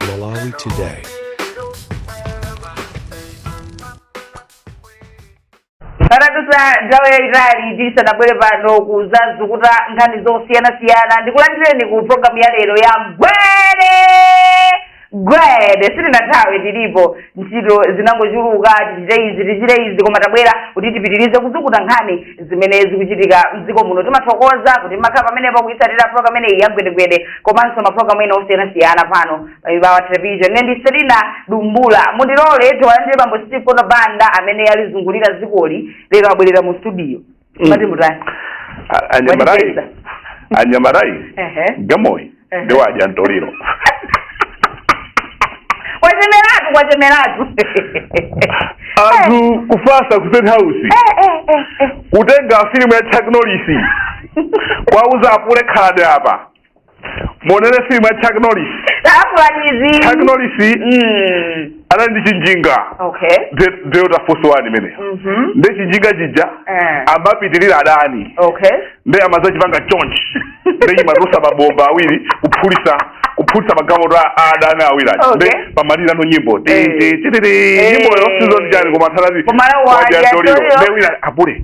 Malawi Today. panadutsa nthawi yayitali tisanabwere pano kuzazukuta nkhani zosiyanasiyana ndikulandireni ku programu ya lero ya gwede gwede sitinathawe tilipo ntchito zinangochuluka tichite izi tichite izi koma tabwera kuti tipitirize kuzukuta nkhani zimene zikuchitika mdziko muno timathokoza kuti mumakhala pamenepo kuyitsatira program imeneyi ya gwedegwede komanso maprogramu ena osiyanasiyana pano pa Mibawa television ine ndi selina dumbula mundilole tiwalandire bambo steve kondabanda amene alizungulira zikoli lero abwerera mu studio Mm. mati mutani A- anyamarayi Wajipeza. anyamarayi Ehe. gamoyi Ehe. ndi wadya mtoliro kwachemeratu kwachemeratu anthu kufasa ku state house Eh, eh, eh, eh. kutenga filimu ya chaknolisi kwauza apule khani apa muonere filimu ya chuck norris chuck norris Mm. anali ndi chinjinga okay Be- Delta Force one imeneyo Mhm. ndi chinjinga chija Eh. amapitirira adani okay ndi amazachipanga chonchi ndiye chimatulutsa mabomba awiri kuphulitsa kuphulitsa magalimoto a adani awiri aja Okay. ndiye pamalira nyimbo Ti- Eh. ti- ti- ti- ti. Eh. nyimboyo sizoni chani koma thalati Koma la wadya wadya mtoliro mtoliro. ndi wina apule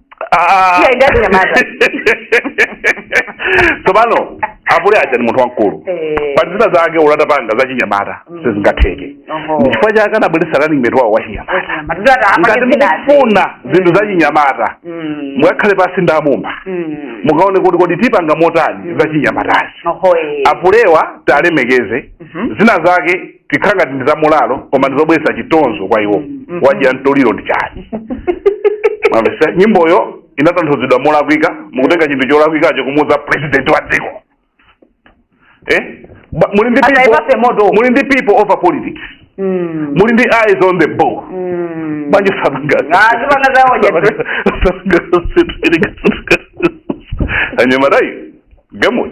tsopano apule aja ndi munthu wamkulu Eh. pa zina zake oti atapanga za chinyamata Mm. sizingatheke Oho. ndi chifukwa chake anabweretsa running mate wawo wa chinyamata Wachinyamata. Ndio ata- ngati apake zinazi. mukufuna zinthu za chinyamata Mm. mukakhale pansi ndi a Mumba Mm. mukaone kuti kodi tipanga motani za chinyamatazi Oho, eh. apulewa tiwalemekeze Mhm. zina zake zikhala ngati ndi zamoralo koma ndi zobweretsa chitonzo kwa iwo Mhm. wadya mtoliro ndi chani mwamvetsa nyimboyo inatanthauzidwa molakwika mukutenga chinthu cholakwikacho kumuuza president wa dziko eh? Ba- muli ndi Asa people- ipase moto. muli ndi people over politics Mm. muli ndi eyes on the ball Mm. manje sabanga Ah, zibanga zawo nje. anyamatayi akambe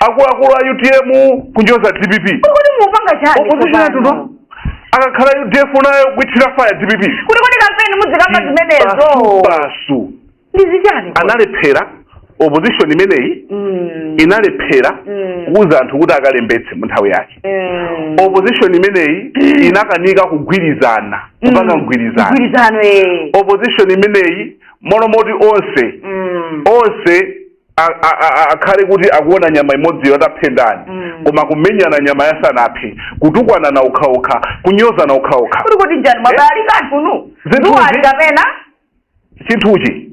akuluakulu a utm kunyoza dpp kodi mupanga chani opposition tsopano? akakhala udf nayo kuithira faya dpp kuti kodi kampeni mudzikamba zimenezo basi ndi zichani kodi? analephera opposition imeneyi Mm, inalephera Mm. kuuza anthu kuti akalembetse mu nthawi yake mm. opposition imeneyi inakanika kugwirizana kupanga mgwirizano mgwirizano eh. opposition imeneyi molomoti onse Mm. onse a- a- a- a- akhale kuti akuona nyama imodziyo aiphe ndani Mm. koma kumenyana nyamayo asanaphe kutukwanana okhaokha kunyozana okhaokha kodi nchani abale kantunu Zinthu duwali zi- kapena chinthuchi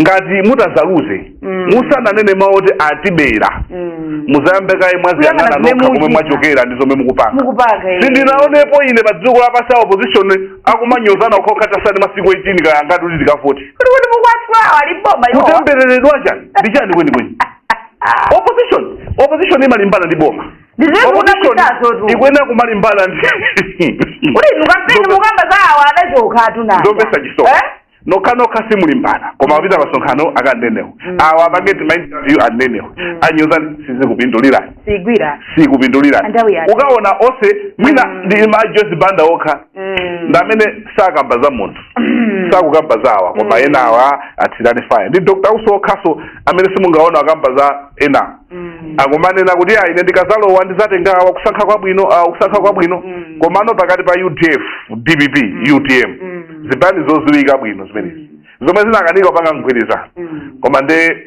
ngati mutadzaluze Mm. musananene mawu oti atibera Mm. mudzayambe kaye mwadziyang'ana Kuyang'ana zomwe nokha komwe muchita. mwachokera ndi zomwe mukupanga mukupanga eh. sindinaonepo ine pa dziko lapansi a opposition akumanyozana okhaokha atatsala masiku 18 kaya angati kuti tikavote kuti kuti mukwatulawo ali m'boma iwowa kutembereredwa chani ndi chani kwenikweni opposition opposition imalimbana ndi boma Ndizimu Opposition unapitazo tu. ikuyenera kumalimbana ndi kuti inu kampeni Ndobe- mukamba za awa adachoka atunaa nzomvetsa chisoni nokha nokha simulimbana koma apita masonkhano akanenewo awa apange tima interview anenewo anyoza sizikupindulirani sigwira sikupindulirani Andawi yake. ukaona onse mwina Mm. ndi mai Joyce Banda okha Mm. ndi amene sakamba za munthu Mm. sakukamba za awa koma Mm. ena awa athirani faya ndi dr usi okhaso amene simungaona akamba za ena Mm. akumanena kuti ayi ine ndikazalowa ndizatenga awa kusankha kwabwino awa kusankha kwabwino Mm. komano pakati pa udf dpp utm Mm. zipani zoziwika bwino zimenezi zomwe zinakanika kupanga mgwirizano Mm. koma nde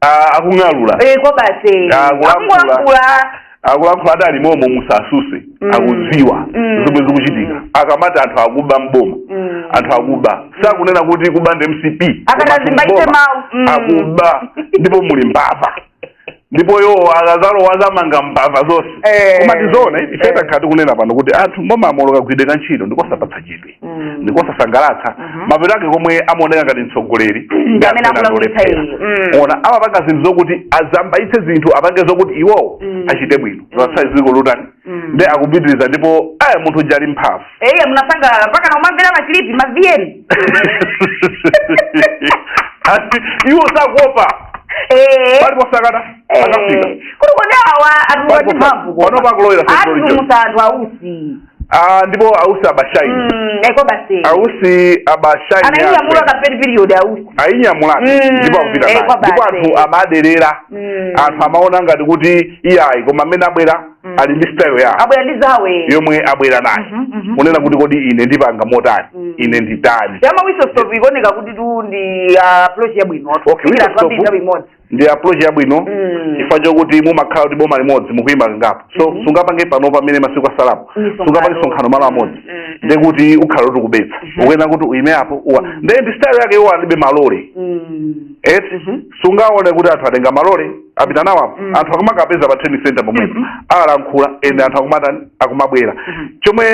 Ah, akung'alula Eh, kwa basi Ah, kulankhula. akungolankhula akulankhula ati ali momo musasuse Mm. akudziwa Mm. zomwe zikuchitika akamati anthu akuba mboma Mm. anthu akuba sakunena kuti akuba ndi mcp Akatazimba Koma ite mboma. mawu. Mm. akuba ndipo muli mbava ndipo iwo akazalowa azamanga mbava zonse Eh. koma ndi zoona ife Eh. takhala tikunena pano kuti anthu mbomamo kagwiridwe ka ntchito ndikosapatsa chidwi Mm. ndikosasangalatsa Mhm. mapeto ake komwe amaoneka ngati mtsogoleri Ndi ndi amene amene akulakwitsa akulephera. iye. Mm. ena amapanga zinthu zokuti azambaitse zinthu apange zokuti iwowo Mm. achite bwino zasai dziko lutani Mm. nde akupitiriza ndipo eya munthu uja ali mphamvu eya munasangalala mpaka na umamvera ma clip ma vn Ati, iwo sakuopa paliponse akata akafika kuti kodi awa Palipo- atuwati mphamvu panopa akulowera sokolo lijo. atumusa anthu ausi Ah, ndipo ausi aba shine Mm, eko basi ausi aba shine anainyamula kampeni period ausi ayinyamulani Mm, ndipo akupita eh, naye kwa ndipo basi. anthu amaderera Mm. anthu amaona ngati kuti iyayi koma amene abwera Mm. ali ndi style yawo abwera ndi zawo yomwe abwera nayo Mhm, mhm. kunena kuti kodi ine ndipanga motani Mm. ine nditani ya ma whistle stop ikuoneka kuti tu ndi ah, approach yabwino Okay, Kufikira whistle anthu ambiri stop. nthawi imodzi ndi approach yabwino Mm. chifukwa chokuti mumakhala kuti boma limodzi mukuima kangapo so sungapange pano pamene masiku asalapo Misonkhano. sungapange msonkhano malo amodzi Mm, mm. nde kuti ukhala kuti ukubetsa ukuyena kuti uime apo uwa ndi ndi style yake iwo alibe malole Mm. eti Mhm. sungaone kuti anthu atenga malole apita nawo apo Mm. anthu akumakapeza pa trading center pomwepo Mhm. alankhula ende anthu akumatani akumabwera Mhm. chomwe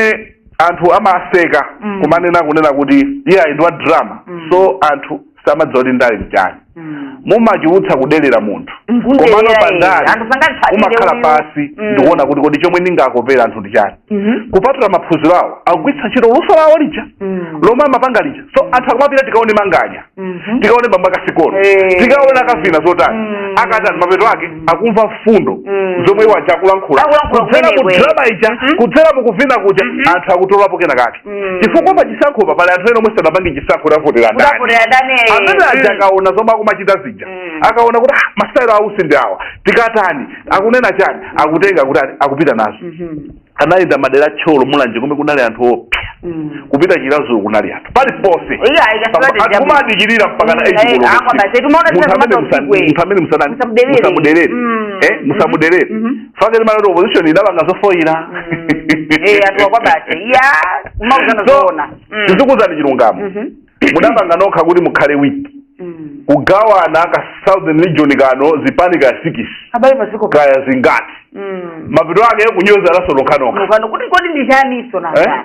anthu amaseka Mm. kumanena kunena kuti iyayi ndi wa drama Mm. so anthu samadziwa kuti ndale nchani Mm. mumachulutsa kudelera munthu Mkundelera komano iye. pandale Anthu sangatsatire umakhala uyu. pansi Mm. ndikuona kuti kodi chomwe ndingakopere anthu ndi chani Mhm. kupatula maphunziro awo akugwiritsa ntchito luso lawo lija Mm. lomwe amapanga lija so anthu akumapita tikaone manganya Mhm. tikaone bambo ake a sikono Eh. tikaone akavina zotani Mm. akatani mapeto ake akumva mfundo Mm. zomwe iwo aja akulankhula Akulankhula kudzera mu kumeneko. drama ija Mhm. kudzera mu kuvina kuja anthu akutolapo kena kake Mm. chifukwa pa chisankhopa pali anthu ena omwe sanapange chisankho tidzavotera ndani Kuti tidzavotera ndani, eh. amene aja Mm. akaona zomwe akumachita zija Mm. akaona kuti "Ah, masitayiro a Usi ndi awa tikatani akunena chani akutenga kuti ati- akupita nazo Mhm. anayenda madera a Thyolo mulanje komwe kunali anthu oopsa Mm. kupita Chiradzulu kunali anthu paliponse Iyo, ayi, Pamba- kasipati anthu jabu. kumadikirira mpaka na Mm, eight eh, koloko akwa usiku. basi, tumaona Munthu tena amene kama musa- usiku, eh. munthu amene musana- Musamudelere. musamudelere Mm. Eh, musamudelere Mhm. fakati mara kuti opposition idapanga zofoyira Mm. Eh, atuwa kwa basi ya umauzana So, zoona Mm. tizikuuzani chilungamo Mhm. mudapanga nokha kuti mukhale wiki Mm. kugawana ka southern region kano zipani 6 abale maziko kaya zingati Mm. mapeto ake kunyoza Lazaro yekhayekha Mukano, kuti kodi ndi chani iso Eh? nanga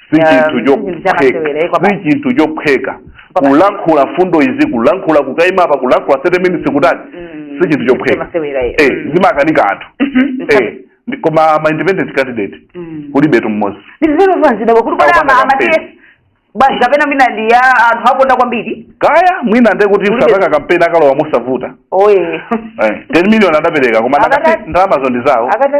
si Ya, chinthu ndi chinthu chophweka chamasewera, eh, kwapa- si chinthu chophweka Kwapa- kulankhula mfundo izi kulankhula kukaima apa kulankhula 30 minutes kutani Mm, si chinthu chophweka chamasewera, eh. Eh, Mm. zimakanika anthu Mhm, Eh, ndi- koma ma independent candidate Mm. kulibetu mmodzi ndizero vanzidabwa kuti kodi Akupanga ama- campaign. amatiye basi kapena mwina ndi oti anthu akuwakonda kwambiri kaya mwina nde kuti Kulibe- osapanga kampeni akalowa mosavuta oye Eh, 10 million adapereka koma Akata- ndakati ndalamazo ndi zawo akata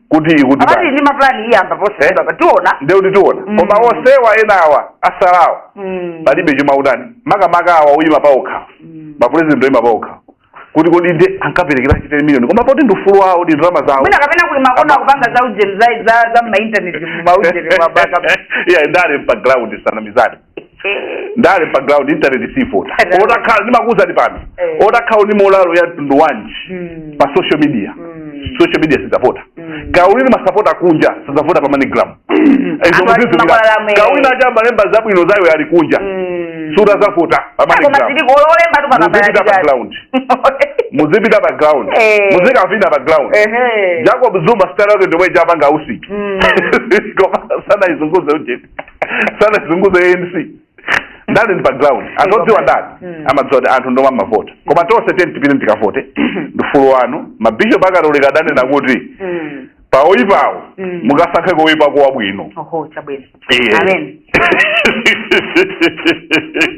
kuti ikuti akati basi ndi mapulani iyamba posachedwapa tiona ndiye kuti tiona Mm. koma onsewa enawa asalawo Mm. palibe chomwe akutani makamaka awa oyima paokha Mm. mapulezidenti oyima paokha kuti kodi nde ankaperekeranji 10 million koma poti ndi ufulu wawo ndi ndalama zawo mwina kapena kuli makona akupanga za ujeni za za za mmaintaneti mmaujeni mwakuti iya ndale pa ground tisanamizane ndale pa ground internet sivota Right. utakhala ndimakuuzani pano Eh. utakhala ndi molalo ya mtundu wanji Mm. pa social media Mm. social media sizavota Mm. kaya uli ndi masapota kunja sizavota pa manigram Anthu makwalala amene. kaulini aja amalemba zabwinozo ali kunja Mm. sadzavota pa Koma manigram zili kolembatu muzipita pa pakabalati. ground muzipita pa ground Eh. muzikavina pa ground Ehe. jacob zuma sitayilo yake ndi yomwe ijapanga Usi Mm. koma sanaizunguze ujeni sanaizunguze anc ndale ndi pa ground anthu odziwa ndale Mm. amadziwa kuti anthu ndi omwe amavota koma tonse tiyeni tipite tikavote ndi ufulu wanu mabishop akatolika adanena kuti Mm. pa oyipawo Mm. mukasankheko oyipako wabwino oho chabwino Iye. amen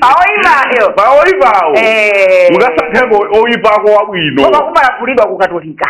aoyimayo pa oyipawo mukasankheko oyipako wabwino koma kumalagulidwa kukatolika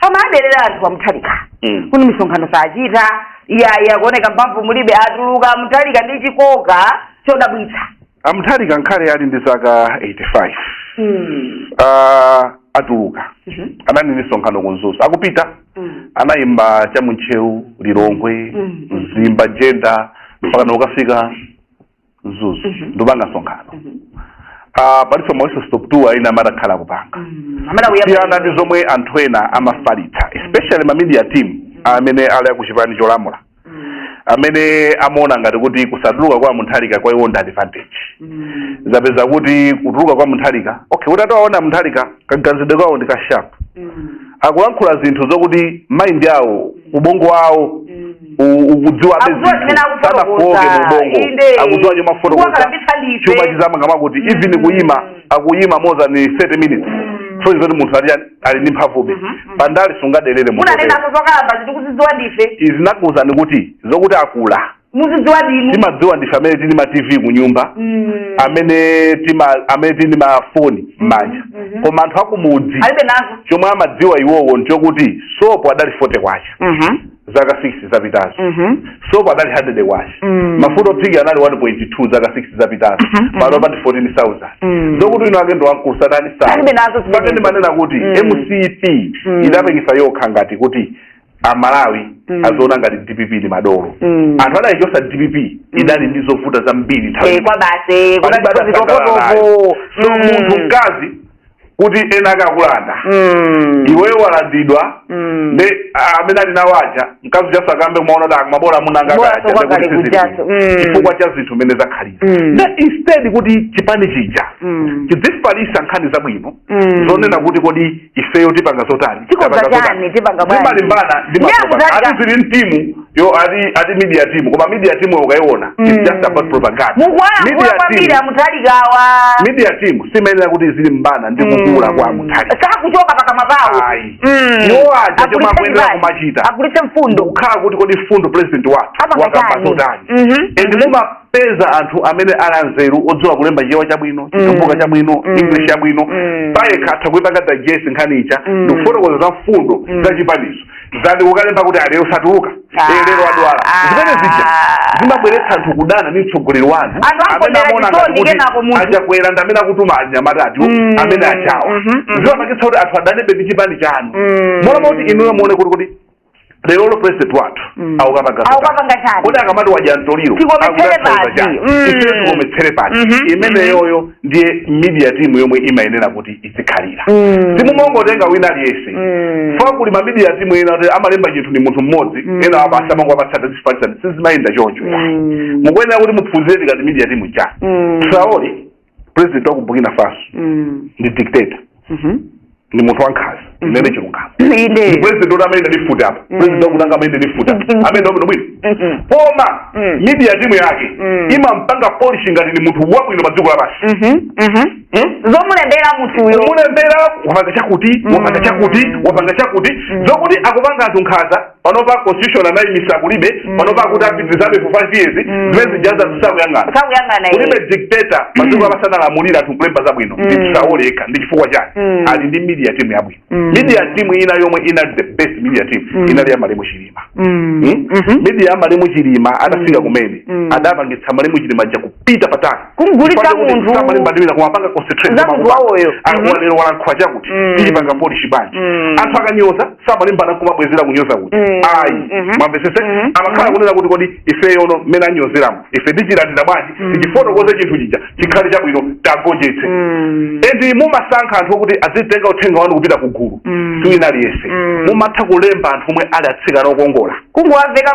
amawadelera anthu a Mutharika Mm. kuti misonkhano sachita iyayi akuoneka mphamvu mulibe atuluka a Mutharika ndi chikoka chodabwitsa a Mutharika ngakhale ali ndi zaka 85 Mm. Ah, atuluka Mhm. anali ndi misonkhano ku Mzuzu akupita Mm. anayima cha mu Ntcheu lilongwe Mm. mzimba jenda mpaka nokafika mzuzu Mhm. ndikupanga msonkhano Mhm. Ah, palinso ma whistle stop tour ina amene akhala akupanga Mm. Amene akuyamba- siyana ndi zomwe anthu ena amafalitsa especially ma media team amene ali akuchipani cholamula Mm. amene amaona ngati kuti kusatuluka kwa Mutharika kwa iwo ndi advantage Mm. zapeza kuti kutuluka kwa Mutharika okay utati uwaone Mutharika kaganizidwe kawo ndi ka sharp Mm. akulankhula zinthu zokuti mind yawo ubongo wawo u- ukudziwa be Akudziwa zimene zinthu. akufotokoza. sanafoke mu ubongo Inde. akudziwa chomwe afotokoza Kuwakalambitsa ndife. chuma chizamangidwa kuti even kuyima akuyima more than 30 minutes so zoti munthu ali ali ndi mphamvube pandale sungadelere munthu munanena za kukalamba tikuzidziwa ndife inu ndakuuzani kuti zokuti akula mukuzidziwa ndinu timadziwa ndife amene tili ndi ma tv kunyumba Mm. amene tima amene tili ndi mafoni m'manja mhm. koma anthu akumudzi alibe nazo chomwe amadziwa iwowo nchokuti sopo adali 40 kwacha Mhm. zaka 6 zapitazo Mhm. sopo adali 100 kwacha Mm. mafuta ophika anali 1.2 zaka 6 zapitazo Mhm, mhm. panopa ndi 14000 Mm. zokuti winawake ndi wamkulu satani Alibe nazo zimene- pake ndimanena kuti Mm. mcp Mm. idapangitsa yokha ngati kuti amalawi Mm. azoona ngati dpp ndi madolo Mm. anthu adayichotsa dpp idali ndi zovuta zambiri nthawi Eh, kwabasi Palibe kuti adasangalala nayo. zikokotopo so munthu mkazi kuti ena akakulanda iweyo walandidwa ndi ah, amene ali nawo aja mkazi ujanso ayambe kumaona kuti ma bola amunanga Bola akaja, sokwa kale ndikuti sizili kujanso. bwino. Mm. chifukwa cha zinthu zimene zakhalira Mm. na instead kuti chipani chija Mm. chidzifalitsa nkhani zabwino Mm. zonena kuti kodi ifeyo tipanga zotani tikonza chani tipanga bwanji amalimbana ndi ma zili mu timu yawo ati ati media team koma media team yo ukaiona mm. it's just about propaganda mukuwalankhula kwambiri a Mutharikawa media team simayenera kuti izilimbana ndi mm. kukula kwa a Mutharika sakuchoka pakamwa pawo mm. iwo aja chomwe akuyenera kumachita akulitse mfundo kukhala kuti kodi mfundo president wathu wakamba zotani mm-hmm. and mm-hmm. muma peza anthu amene ali anzeru odziwa kulemba chichewa chabwino chitumbuka chabwino Mm. english yabwino Mm. payekha atha kuipanga digest nkhani ija Mm. ndikufotokoza za mfundo za chipanizo zati ukalemba kuti a lero satuluka Ah. Eh, lero adwala Ah. zimene zija zimabweretsa anthu kudana ndi mtsogoleri wanu Anthu amene akondera amaona chisoni ngati kuti kenako munthu. a Chakwera ndi amene akutuma anyamata ati Mm. amene ajawa Mhm, mhm. zimapangitsa kuti anthu adanebe ndi chipani chanu Mm. mona moti inuyo muone kuti kuti lerolo president wathu Mm. aukapanga Aukapanga chani? kodi akamati wadya mtoliro Tikometsere akutanthauza pati. chani? Mm. Ife tikometsere pati Mhm, imeneyoyo ndiye media team yomwe imayenera kuti izikhalira Mm. simumongotenga wina aliyense Mm. chifukwa kuli ma media team ena kuti amalemba chinthu ndi munthu mmodzi Mm. ena amangowapatsa ati zifalitsani sizimayenda choncho Mm. mukuyenera kuti muphunzire tikati media team cha Mm. saoli president wa ku burkina faso Mm. ndi dictator Mhm. ndi munthu wankhanza ndinene chilungamo ndi president oti amene ndi futi apa president wakutanga amene ndi futi apa amene ndi bwino Mhm. koma Mm. media timu yake Mm. imampanga polish ngati ndi munthu wabwino pa dziko lapansi Mhm. Mhm. Hmm? zomulembera munthuyo mulembera wapanga chakuti wapanga chakuti wapanga chakuti zokuti akupanga anthu nkhanza panopa constitution anayimisa kulibe mm. panopa akuti apitirizabe for five years mm. zimene zijazi sitikuyang'ana kulibe dictator padziko mm. amene analamulira anthu kulemba zabwino nditisaoleka ndi chifukwa chake ali ndi media team yabwino media team ina yomwe inali the best media team inali ya malemu chilima hmm? mm-hmm. media ya malemu chilima adafika komwe adapangitsa malemu chilima aja kupita patali kumugulitsa munthu samalimbana ndi ena kumapanga concentrate zamunthu wawoyo lero mm-hmm. walankhula chakuti ayipanga polish bwanji anthu akanyoza samalimbana kumabwezera kunyoza kuti mm. ayi mm -hmm. mwamvetsetsa mm -hmm. amakhala mm-hmm. kunena kuti kodi ifeyono mmene anyozeramo ife tichilandira bwanji mm. tichifotokoze chinthu chija chikhale chabwino tiwagonjetse mm. endi mumasankha anthu okuti azitenga uthenga wanu kupita ku gulu mm. siwina aliyense mm. mumatha kulemba anthu omwe ali atsikana okongola kungowaveka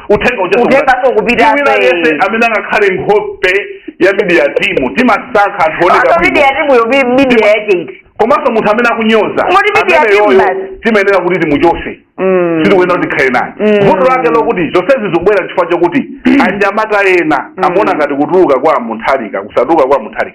uthenga uja Uthenga siukupita. siukupita, Si wina eh. aliyense amene angakhale nkhope ya midiya timu timasankha anthu oneka Komanso bwino. midiya timu yobi midiya yake iti. komanso munthu amene akunyoza Ngoti midiya amene timu yoyo basi. timayenera kuti timuchotse Mm. sitikuyenera kuti tikhale naye Mm. vuto lake lokuti zonsezi zikubwera chifukwa chokuti anyamata ena amaona ngati kutuluka kwa mutharika kusatuluka kwa mutharika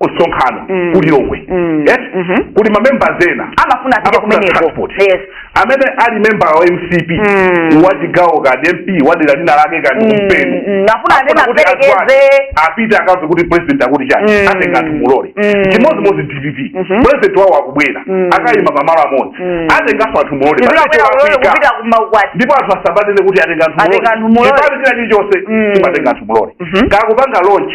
msonkhano mm. ku lilongwe mm. yes? mm -hmm. kuli mamembers ena amafuna apite kumeneko yes. amene ali member wa mcp mm. wa chigawo kapena mp wa dera lina lake kaya mm. mpeni mm. afuna anthu amuperekeze apite akamve kuti president akuti chani mm. atenga anthu mu lole mm. chimodzimodzi dpp mm -hmm. president wawo akubwera mm. akayima pamalo amodzi mm. atenganso anthu mu lole ndipo anthu asamanene kuti atenga anthu mu lole chipani china chilichonse mm. chimatenga anthu mu lole mm -hmm. chikamapanga launch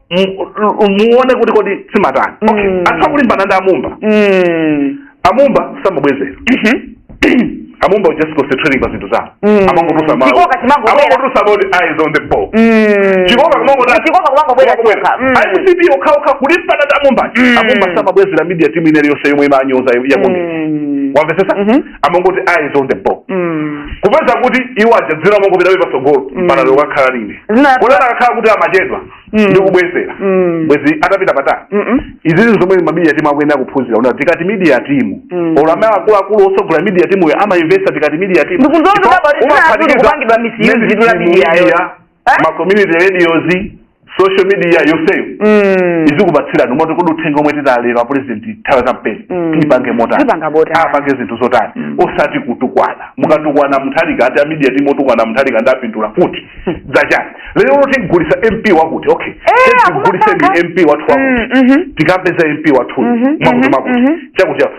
muone kuti kodi zimatani okay mm. atha kulimbana ndi amumba mm. amumba samabwezera mhm. amumba was just concentrating pa zinthu zawo mm. amangoti amangoti eyes on the ball chikoka kumangobwera mcp okhaokha kulimbana ndi amumba amumba samabwezera media team inali yonse yomwe imanyoza ya congress wamvetsetsa mhm. amangoti eyes on the ball Mm. kupeza kuti iwo aja dzina amangopitabe patsogolo Mm. mpaka lero akanakhala kunena kuti akanakhala kuti amachedwa Mm. ndi kubwezera Mm. bwenzi atapita patali Mm-mm. izi zinthu zomwe mamidia timu akuyenera kuphunzira una tikati media timu Mm. olo amene akuluakulu otsogolera media timuyo amainvesta tikati media timu Ndikuzoona Ndipo kuti abati zina umaphatikiza akulu kupangidwa misuse zinthu la media yo. media Eh? ma community radios social media yonseyo Mm. izikupatsirani kumati kodi uthenga omwe tidalera apurezidenti nthawi ya kampeni Mm. tipange motani Tipanga botani. apange zinthu zotani osati kutukwana mukatukwana muthalika ati amidiya timu otukwana muthalika ndapindula kuti zachani lero loti tigulisa mp wakuti okay Eh, tigulise akumasankha. ndi mp wathu wakuti Mm, mhm. tikapeza mp wathuyu Mhm, mwakuti mhm, mwakuti mhm. chakuti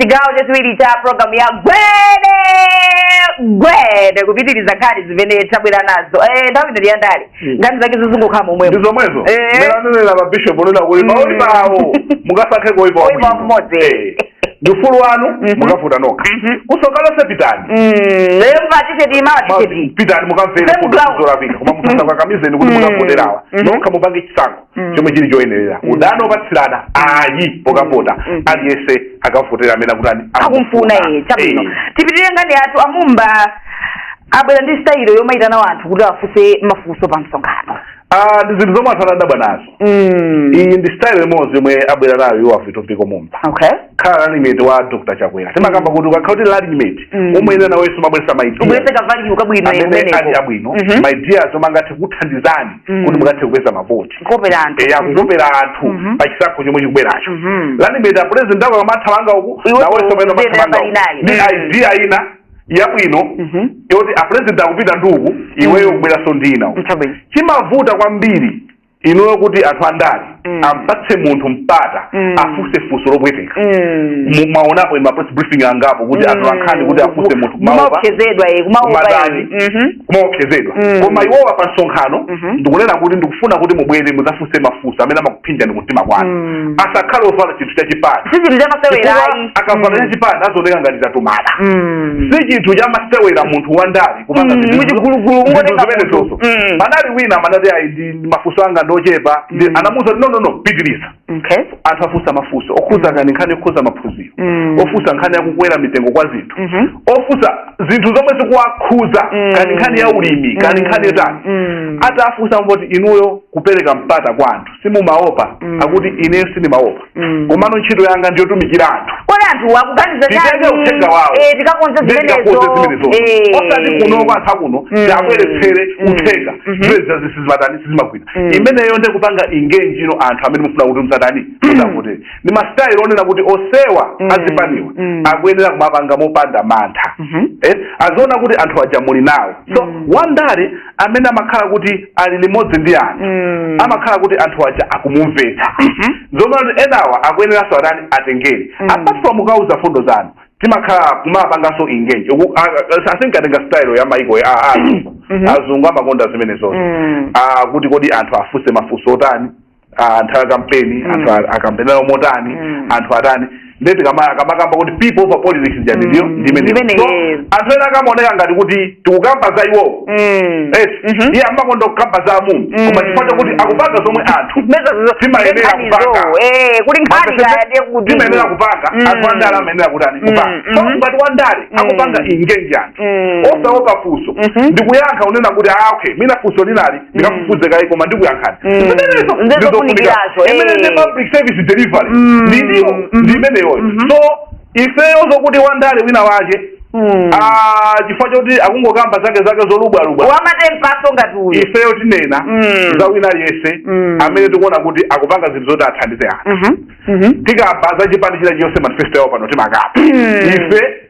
chigawo chachiwiri cha programu ya gwede gwede kupitiriza nkhani zimene tabwera nazo Eh, nthawi ino ndiyandale Hmm. nkhani zake zizingokhala momwemo ndi zomwezo Eh. mmene anenera mabishop onena kuti Mm. maoipa awo mukasankhe koipa Oipa mmodzi. ndi ufulu wanu Mhm. mukavota nokha Mhm. kusokalo pitani lero mukatisheti Ma- matisheti pitani mukamvere Same ground. kuzolapika koma musazakakamizane kuti Mm. mukavoterawa Mhm. nokha mupange chisankho Mm. chomwe chili choyenerera mm. udani opatsirana ayi pokavota mm. mm. aliyense akavotera amene akutani akumfuna iye chabwino eh. tipitirire nkhani yathu a Mumba abwera ndi sitayilo yomayitana wanthu kuti afunse mafunso pa msonkhano ah, ndi zinthu zomwe anthu anadabwa nazo mm. iyi ndi style imodzi yomwe abwera nayo iwo a Vitumbiko Mumba okay. pokhala running mate wa dr chakwera timakamba kuti ukakhala kuti running mate umayenera nawenso umabweresa maidea ubwerese kavaliyuka bwino amene ali abwino mhm. maideas omwe angathe kuthandizani Mm. kuti mukathe kupeza mavoti Kukopera anthu. eya kukopera anthu Mhm. pa chisankho chomwe chikubweracho Mhm. running mate a president ako akamathamanga uku Iwe nawenso uku- umayenera umathamanga uku. palinayi. ndi Mm. idea ina yabwino Mhm. yoti a president akupita ndi uku iweyo kubweranso ndi ina uku Chabwino. chimavuta kwambiri ineyo kuti anthu andale Mm. ampatse munthu mpata Mm. afunse funso lopweteka Mm. Mu- mwaonapo ma press briefing angapo kuti Mm. atolankhani kuti afunse munthu kumaopa kumaopsezedwa eh, kumaopa Kumadani. eh. Mhm. kumaopsezedwa Mm. koma iwowa pa msonkhano Mhm. ndi kunena kuti ndikufuna kuti mubwere muzafunse mafunso amene amakuphinjani kumtima kwanu Mm. asakhale ovala chinthu cha chipani si chinthu chamasewera Chifukwa ayi akavala cha chipani azioneka ngati tatumana Mm. si chinthu chamasewera munthu wandale kupanga Mm, zinthu- muchigulugulu, zinthu ungotenga zimenezo munthu. Mm. panali wina amanati ayi ine mafunso anga ndi ochepa ndi Mm. anamuuza kuti no no no pitiriza okay anthu afunsa mafunso okhudza kani nkhani yokhudza maphunziro Mm. ofunsa nkhani yakukwera mitengo kwa zinthu Mhm. ofunsa zinthu zomwe zikuwakhuza Mm. kani nkhani ya ulimi kani Mm. nkhani yotani Mm. atafunsa Mboti inuyo kupereka mpata kwa anthu simumaopa Mm. akuti ineyo sindimaopa Mm. komano ntchito yanga ndiyotumikira anthu kodi anthu akuganiza titenge uthenga wawo eh, tikakonze zimenezo eh. osati kuno kwathu kuno mm. tiabweretsere mm. uthenga mm-hmm. zimene zija sizimatani sizimagwira imeneyo nde kupanga engage ndi anthu amene mufuna kuti muzatani mutivotere ndi masitayilo onena kuti onsewa azipaniwa akuyenera kumapanga mopanda mantha mm-hmm. eh, aziona kuti anthu aja muli nawo so wandale amene amakhala kuti ali limodzi ndi anthu Mm. amakhala kuti anthu aja akumumvetsa Mhm. zomwe anthu enawa akuyeneranso atani atengere Mm. apart from kukawauza fundo zanu timakhala kumapanganso engage Uku- a- a- asinkatenga style ya maiko ya a- a- azungu Mhm. azungu amakonda zimene zonse Mm. Ah, kuti kodi anthu afunse mafunso otani ah, anthu a kampeni Mm. anthu a- akampenera motani Mm. anthu atani nde tikama- akamakamba kuti people over politics ija ndiyo Mm. ndimene Ndimene, so yes. anthu ena akamaoneka ngati kuti tikukamba za iwowo Mm. Yes, Mhm. iye amakonda kukamba za amumba Mm. koma chifukwa chakuti akupanga zomwe anthu Meza zo- Timayenera nkhani kupanga. zo, eh, kuti nkhani kaya ndiye kuti timayenera kupanga Mm. anthu andale amayenera kutani Mm, kupanga mhm. so ngati wandale Mm. akupanga engage anthu Mm. osaopa funso Mhm. ndikuyankha kunena kuti ah okay mwina funso linali ndikafufuze kaye koma ndikuyankhani Mm. zimenezo Ndizo ndizofunika kunikirazo, eh. imene ndi public service delivery Mm. ndi ndiwo Mhm. ndi imeneyoyo Mhm. so ifeyo zokuti wandale wina wache Mm. ah, chifukwa choti akungokamba zake zake zolubwalubwa wamatembaso ngati uyu ifeyo tinena Mm. za wina aliyense Mm. amene tikuona kuti akupanga zinthu zoti athandize anthu Mhm. Mhm. tikamba za chipani china chilichonse manifesto yawo pano timakamba Mm. ife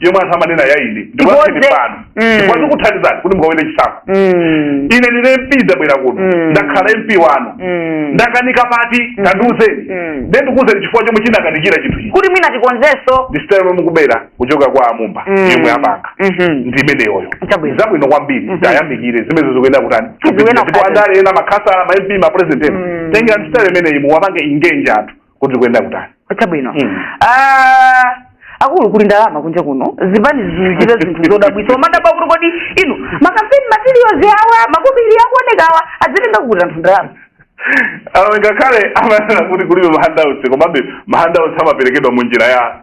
yomwe anthu amanena ya ine ndikuyankheni Ikonze. pano Mm. chifukwa ndikuthandizani kuti mukawine chisankho Mm. ine ndine mp ndabwera kuno Mm. ndakhala mp wanu Mm. ndakanika pati tandiuzeni Mm. nde ndikuuzeni chifukwa chomwe chinakanikira chinthu ichi kuti mwina tikonzenso ndi sitayilo yomwe mukubera kuchoka kwa amumba Mm. yomwe apanga Mhm. ndi imeneyoyo Chabwino. zabwino kwambiri Mhm. tayamikire zimene zikuyenera kutani Zikuenda ndipo kutani. andale ena makhasala ma mp ma president ena Mm. tengerani sitayilo imeneyi muwapange engage anthu kuti zikuyenera kutani chabwino Mm. Ah, akulu kuli ndalama kunja kuno zipani zikuchita zinthu zodabwitsa omadabwa kuti kodi inu makampeni materials awa makobiri akuoneka awa azitenga kuti anthu ndalama awo ngakhale amanena kuti kulibe mahandouts komabe mahandouts amaperekedwa mu njira ya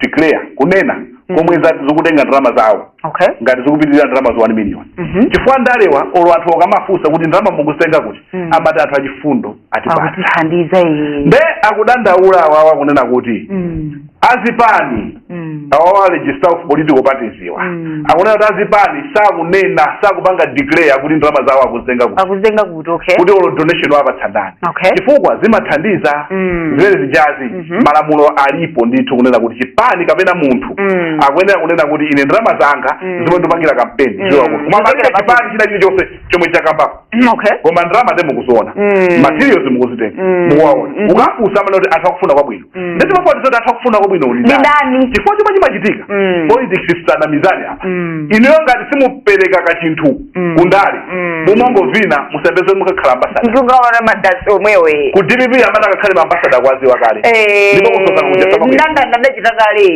declare kunena mm. komwe mm. zikutenga ndalama zawo okay. ngati zikupitirira ndalama za 1 million mm -hmm. chifukwa andalewa olo anthu akamafunsa kuti ndalama mukuzitenga kuti mm. amati anthu achifundo atipa- atithandiza nde akudandaula awawa kunena kuti mm. azipani mm. awawa registrar of political parties iwa mm. akunena kuti azipani sakunena sakupanga declare kuti ndalama zawo akuzitenga kuti kuti okay kuti olo donation wapatsa ndani Okay. chifukwa zimathandiza Mm. zimene zijazi Mhm. malamulo alipo ndithu kunena kuti chipani kapena munthu Mm. akuyenera kunena kuti ine ndalama zanga Mm. zomwe ndikupangira kampeni Mm. ziwa kuti koma palibe Ndipakira chipani china chilichonse chomwe chakambapo okay koma ndalama nde mukuziona Mm. materials mukuzitenga Mm. mukuwaona Mhm. ukafunsa amanena kuti anthu akufuna kwabwino Mm. ndimati timafuna zoti anthu akufuna kwabwino Ndi ndani? ndani chifukwa chomwe chimachitika Mm. politics tisanamizane apa Mm. inuyo ngati simupereka kachinthu Mm. kundale Mm. mumangovina musayembekeze mukakhala ambasada ndikukaona madasi omwewe ku dpp amene akakhale maambasada akuwaziwa kale ndipo kusoka kuja sababu- ndandanda unachitika kale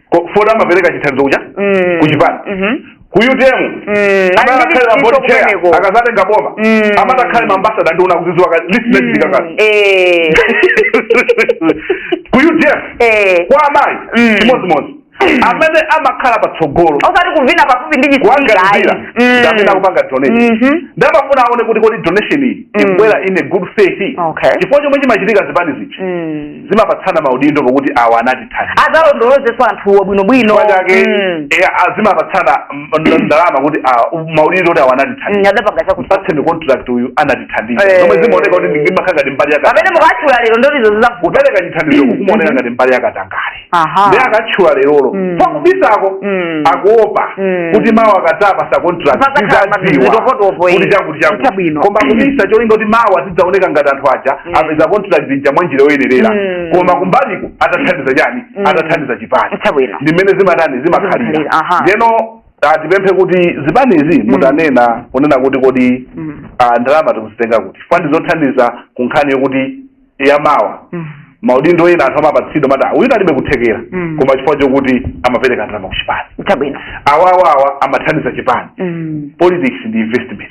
Ko- poti amapereka chithandizo kuja Mm. kuchipani Mhm. ku utm Mm. amakakhale ma board chair Kumeneko. akazatenga boma Mm. amakakhale maambasada ndi akuziziwa kale list inachitika kale Eh. ku utm Eh. kwa amayi Mm. chimodzimodzi amene amakhala patsogolo osati kuvina pafupi ndi kuanganizira ndamene akupanga donation Mhm. ndamafuna aone kuti kodi donation iyi Mm. ikubwera in a good faith Okay. chifukwa chomwe chimachitika zipani izi Mm. zimapatsana maudindo pokuti awa anatithandiza adzalondolozenso anthuwo bwinobwino chifukwa chake Mm. eh, ah, zimapatsana mm, nd- ndalama kuti ah, maudindo kuti awa Mm, anatithandiza adapanga chakuti mpatseni contract uyu anatithandiza Eh. zomwe zimaoneka kuti ndimakhala ngati mbali yakatangale pamene mukatchula lero ndolizo zizavuta kupereka chithandizo kukumaoneka ngati mbali yakatangale aha ndi akatchula lerolo Mm. pakubisako Mm. akuopa Mm. kuti mawa akadzapatsa contract Pakatapa zizadziwika zitokotopo, eh. kuti chakuti chakuti Chabwino. koma kubisa cholinga kuti mawa zidzaoneka ngati anthu aja Mm. apeza contract zija mwa njira yoyenerera Mm. koma kumbaliko atathandiza chani Mm. atathandiza chipani Chabwino. ndimene zimatani Zimakhalira, zimakhalira aha. ndeno ah, tipemphe kuti zipanizi mutanena kunena kuti kodi Mm. ah, ndalama mukuzitenga kuti chifukwa ndi zothandiza ku nkhani yokuti yamawa Mm. maudindo ena anthu amapatsidwa mata uyu alibe kuthekera Mm. koma chifukwa chokuti amapereka ndalama ku chipani Chabwino. awawawa amathandiza chipani Mm. politics ndi investment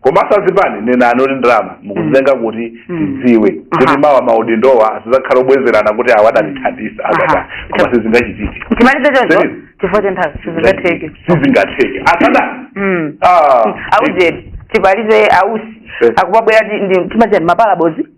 komanso azipani nenani kuti ndalama mukuzitenga kuti Mm. tidziwe Aha. kuti mawa maudindowa asizakhala obwezerana kuti awa adatithandiza Aha. azata koma sizingachitike timalize choncho Zeni. chifukwa cha nthawi sizingatheke sizingatheke asada Mm. Ah. aujeni timalize ausi Eh. akubwera ndi ndi- timachita ndi mapalabodzi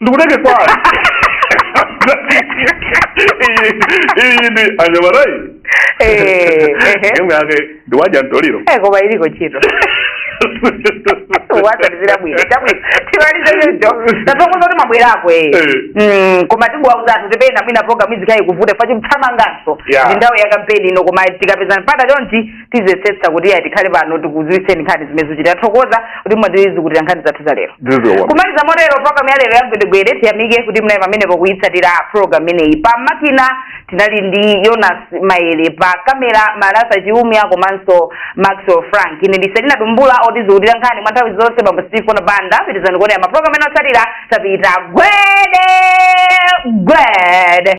ndikutenge kwani iyi ndi anyamata inu imwe yake ndiwadya mtoliro koma iliko chito watalizira bwino chabwino timalize choncho tathokoza kuti mwabwerako ee Eh. koma tikuwauza anthu kuti pena mwina program izikhala ikuvuta chifukwa tikuthamanganso Yeah. ndi nthawi ya kampeni ino koma tikapezana mpata chonchi tiziyesetsa kuti iyayi tikhale pano tikuziwitseni nkhani zimene zikuchitika tathokoza kuti mwatisukulira nkhani zathu za lero ndizowa kumaliza motero program ya lero ya gwedegwede tiyamike kuti munali pamenepo kuyitsatira program imeneyi pa makina tinali ndi yonas maele pa kamera malasa chiumya komanso maxwell frank ine ndi selina tumbula otisukulira nkhani mwa nthawi zonse bambo stephen banda pitizani kuonera maprogram ena otsatira tapita gwede gwede